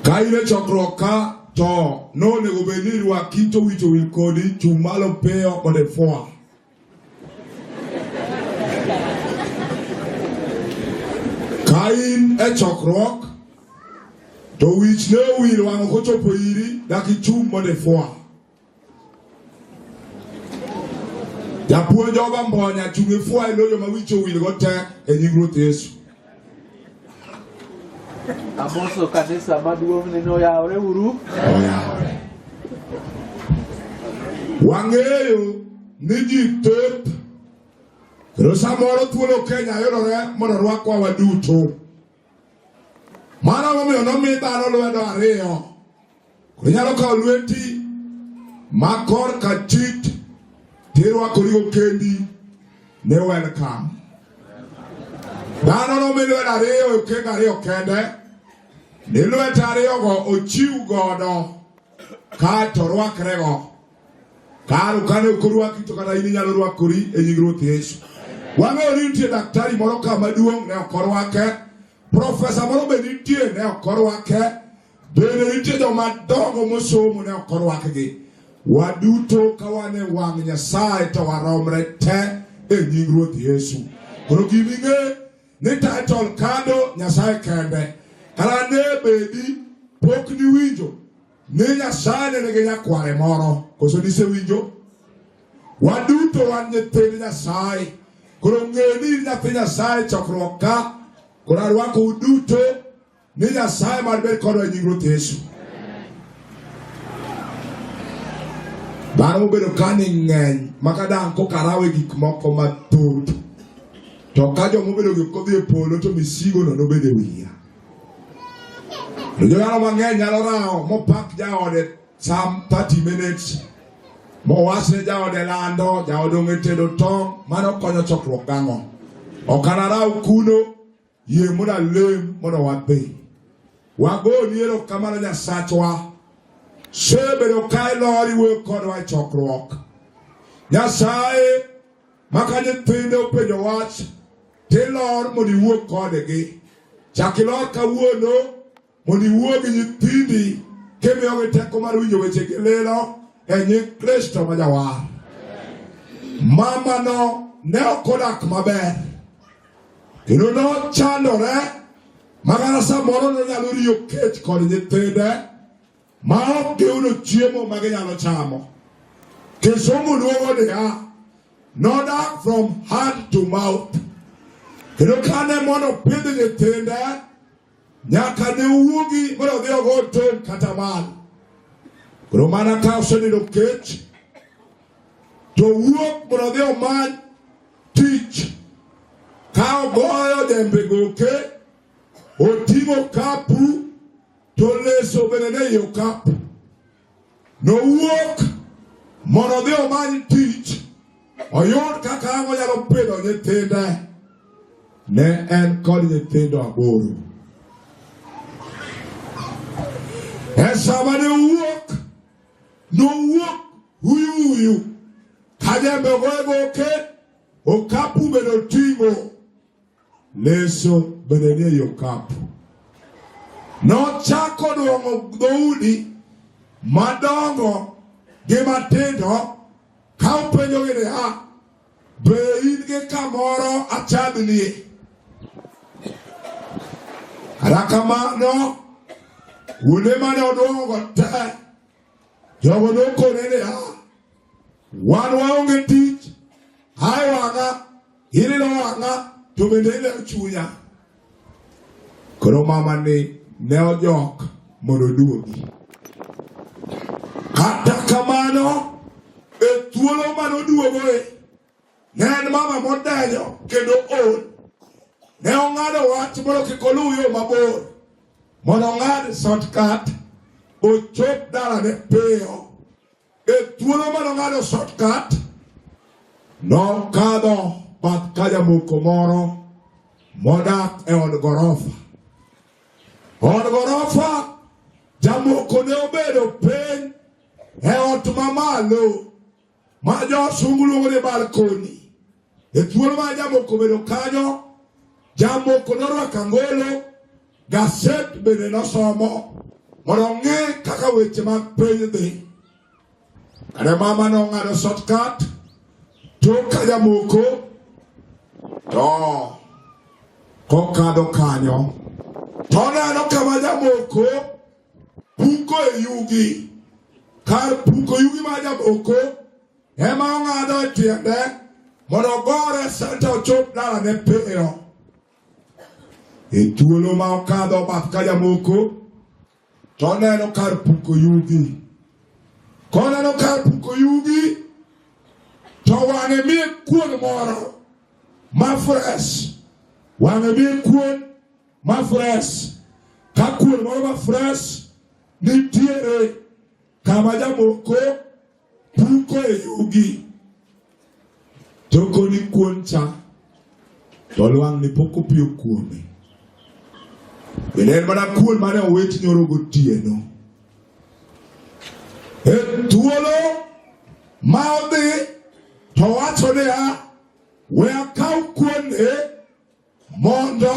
Ka in e chokruok ka to nonego bed ni irwaki to wich owil kodi chung' malo piyo mondo ifwa. Ka in e chokruok to wich ne owil wang'o kochopo iri dak ichung' mondo ifwa. Japuonj oga mbonya chung' e fwa e loyo ma wicho wil go te e nying Ruoth Yesu. Amoso kanisa maduong' ni noyawre uru. Oyawre. Wang'eyo ni ji thoth kendo samoro thuolo Kenya yudore mondo rwakwa waduto. Mano momiyo nomi dhano lwedo ariyo. Koro inyalo kawo lweti ma kor ka chit tirwakorigo kendi ni welcome. Dhano nomi lwedo ariyo e okenge ariyo kende ni lwete ariyogo ochiw godo kae to orwakrego. Karo kane ok orwaki to kata in inyalo rwakori e nying Ruoth Yesu. Wang'eyo ni nitie daktari moro ka maduong' ne ok orwake, profesa moro be nitie ne ok orwake, bende nitie joma dongo mosomo ne ok orwakgi. Waduto ka wan e wang' Nyasaye to waromre te e nying Ruoth Yesu. Koro gima ing'e ni title kado Nyasaye kende. Kara ne bedi pok niwinjo Ni Nyasaye ne nigi nyakware moro, koso nisewinjo? Waduto wan nyithind Nyasaye. Koro ng'eyo ni in nyathi Nyasaye chokruok ka, koro arwako uduto ni Nyasaye mar ber kodwa e nying Ruoth Yesu. Dhano mobedo ka ni ng'eny maka dang' kokarawe gik moko mathoth, to ka joma obedo gi kodhi e polo to misigono nobed e wiya. Jodala mang'eny nyalo rawo mopak jaode some 30 minutes mowachne jaode lando jaode ong'e tedo tong' mano konyo chokruok gang'o ok anaraw kuno yie mondo alem mondo wadhi wagoni erokamano nyasachwa sebedo ka ilor iwuoyo kodwa e chokruok nyasaye ma ka nyithinde openjo wach tilor mondo iwuo kodgi chak ilor kawuono mondo iwuo gi nyithindi kimiyogi teko mar winjo weche gi lilo e nying kristo ma jawar mamano ne ok odak maber kendo nochandore makata samoro nonyalo riyo kech kod nyithinde ma ok giyudo chiemo ma ginyalo chamo. Kisungu luongo niya, nodak from hand to mouth. Kendo kane mondo pidh nyithinde nyaka ne wuogi mondo odhi ogo tong' kata mal. Koro mana ka osenindo kech to wuok mondo odhi omany tich ka ogoyo jembe goke oting'o kapu to leso bende ne yo kap. Nowuok mondo odhi omany tich oyud kaka ang' onyalo pidho nyithinde. Ne en kod nyithindo aboro. E sama ne owuok, nowuok huyu huyu ka jembe ogoye goke, okapu bende oting'o. Leso bende nie yo kapu. Nochako duong'o dhoudi madongo gi matindo ka openjogi niya, be in gi kamoro achadhnie? Kata kamano, kuonde mane odwong'ogo te, jogo nokone niya, wan waonge tich, ae wang'a Ililo wang'a to bende ililo chunya. Koro mama ni ne ojok mondo oduogi. Kata kamano e thuolo mane oduogoe ne en mama modenyo kendo ool. Ne ong'ado wach mondo kik oluw yo mabor mondo ong'ad shortcut ochop dalane piyo. E thuolo mane ong'ado shortcut, nokadho bath ka jamoko moro modak e od gorofa. Od gorofa jamoko ne obedo piny e ot mamalo ma josungu luongo ni balkoni. E thuolo ma jamoko bedo kanyo, jamoko norwako angolo, gaset bende nosomo mondo ong'e kaka weche mag piny dhi. Kane mama nong'ado shortcut tok ka jamoko to kokadho kanyo to neno kama jamoko puko e yugi kar puko yugi ma jamoko ema ong'ado e tiende mondo ogore senta ochop dalane piyo. E thuolo ma okadho bath ka jamoko to oneno kar puko yugi. Koneno kar puko yugi to wang'e miye kuon moro ma fresh. Wang'e miye kuon ma fresh. Ka kuon moro ma fresh nitiere kama jamoko Puko e yugi to koni kuon cha to lwang' ni pok opiyo kuome. Bende en mana kuon mane owit nyoro gotieno. E thuolo ma odhi to wacho niya, we akaw kuon e mondo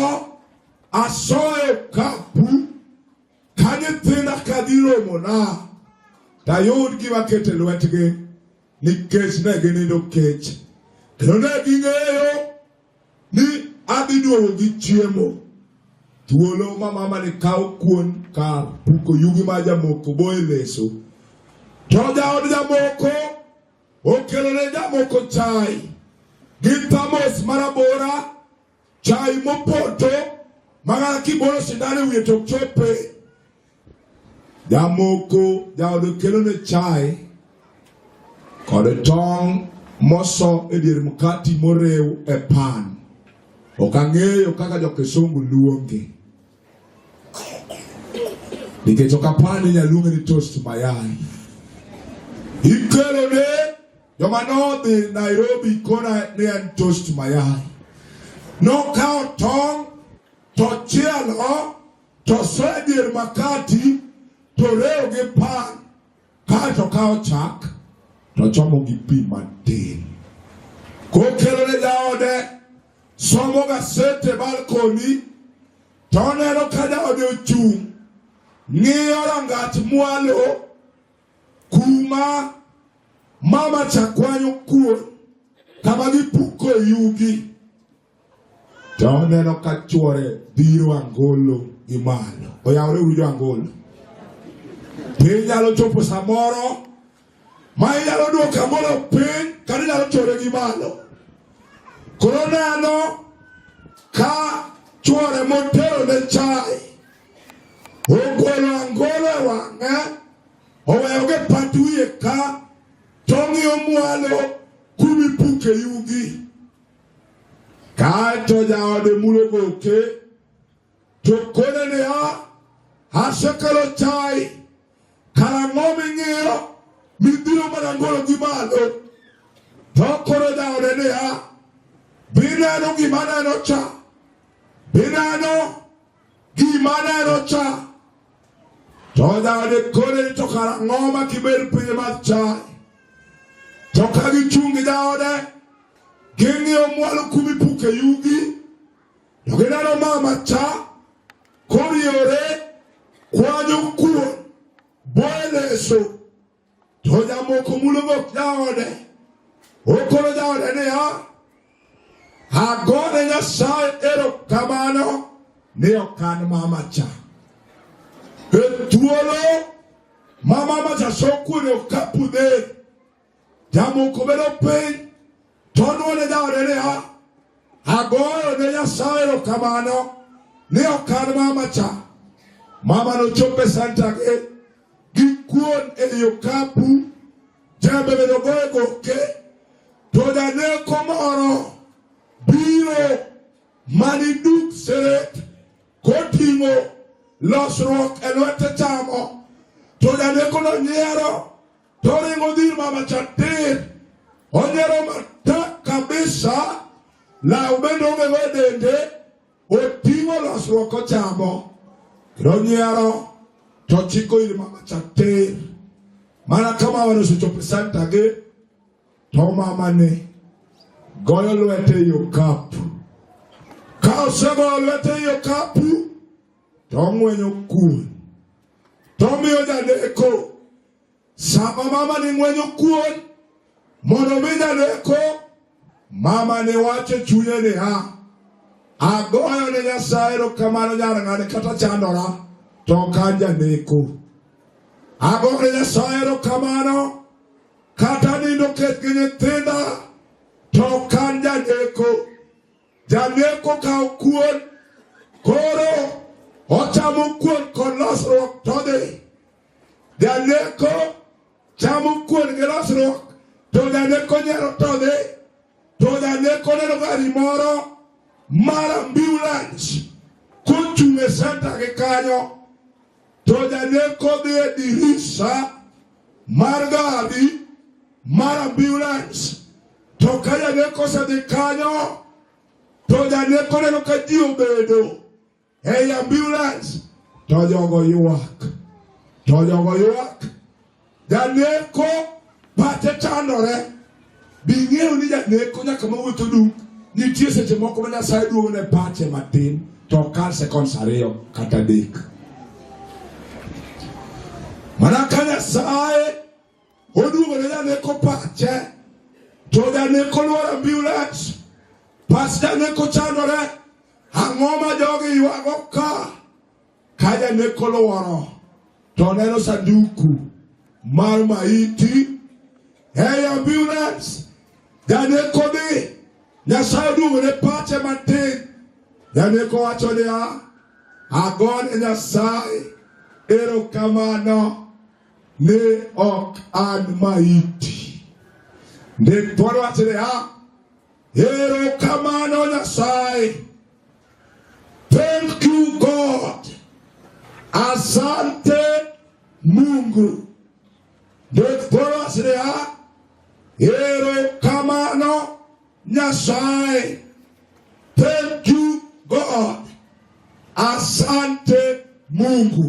asoye kapu ka nyithinda ka dhi romona tayud gima kete lwetgi nikech ne ginindo kech kendo ne ging'eyo ni adhi duogo gi chiemo thuolo ma mama ni kawo kuon kar puko yugi ma jamoko boye leso to jaod jamoko Okelone jamoko chai gi thamos marabora, chai mopoto magana kibolo sindan e wiye to ok chope. Jamoko jaodo kelone chai kod tong' moso e dier mkati morew e pan. Ok ang'eyo kaka jo-Kisungu luonge. nikech ok apar ni nyaluonge ni toast mayai ikelo ne joma nodhi Nairobi kona ni en toast mayai nokawo tong' tochielo tosoyo e dier makati torewo gi pan Kae to kawo chak to chomo gi pi matin. Kokelo ne jaode, somo gasete balkoni, to oneno ka jaode ochung' ng'iyo rangach mwalo kuma mama cha kwanyo kuon kama gipuko yugi To oneno ka chwore biro angolo gi malo. Oyawore uru jo angolo. Be inyalo chopo samoro ma inyalo duoko angolo piny kata inyalo chwore gi malo. Koro oneno ka chwore motero ne chai ogolo angolo e wang'e oweyo gi pat wiye ka tong'iyo mwalo kumipuke yugi Kaeto jaode mulo goke to kone niya, asekelo chai, karang'o ming'iyo mibiro mana gologi malo? To koro jaode niya, bineno gima neno cha, bineno Gima neno cha to dhade kore to kara ng'oma kibed piny mar chaye to ka gichung' gi jaode ging'iyo mwalo kumi puke yugi to gineno mama cha koriewore kwanyo kuon boyo leso To jamoko mulo gok jaode. Okoro jaode niya, agone Nyasaye erokamano ni ok an mama cha. E thuolo ma mama cha sokuone okapu ne, jamoko bedo piny To none jaode niya, agoyo ne Nyasaye erokamano ni ok an mama cha. Mama nochopo e santake gi kuon ei okapu, jembe bende ogoyo e goke, to janeko moro biro mani duk seret koting'o losruok e lwete chamo, to janekono nyiero Toringo dhir mama cha tir. Onyero matak kabisa. La ubende onge go dende. Oting'o losruok ochamo. Ronyero. To chiko ir mama cha tir. Mana kama wane suchope santa ge. To mama ne. Goyo lwete yo kapu. Ka osegoyo lwete yo kapu. to ong'wenyo kuon to omiyo jadeko. Sama mama ni ng'wenyo kuon mondo omi jadeko, mama ni wacho chunye ni ha agoyo ne Nyasaye erokamano nyar ng'ane kata chandora to ok an janeko. Agoyo ne Nyasaye erokamano kata nindo kech gi nyithinda to ok an janeko. Janeko kawo kuon koro ochamo kuon kod losruok todhi. Janeko chamo kuon gi losruok to janeko nyero todhi to janeko neno gari moro mar ambulance kochung' e senta gi kanyo to janeko dhi e dirisa mar gari mar ambulance, to ka janeko osedhi kanyo to janeko neno ka ji obedo ei ambulance to jogo ywak, to jogo ywak Janeko pache chandore. Bing'eyo ni janeko nyaka mawuotho duk. Nitie seche moko ma Nyasaye duogo ne pache matin to okal sekonds ariyo kata adek. Mana ka Nyasaye oduogo ne janeko pache to janeko luoro ambulance. Pas janeko chandore. Ang'o ma jogi ywago ka? Ka janek olworo to oneno sanduku mar maiti, hey ambulance, janek odhi, Nyasaye oduogone pache matin. Janek owacho niya, agone Nyasaye erokamano ni ok an maiti. Ndik dwaro wacho niya Erokamano Nyasaye. Thank you God. Asante Mungu. Ndokporasrea. Erokamano Nyasaye. Thank you God. Asante Mungu.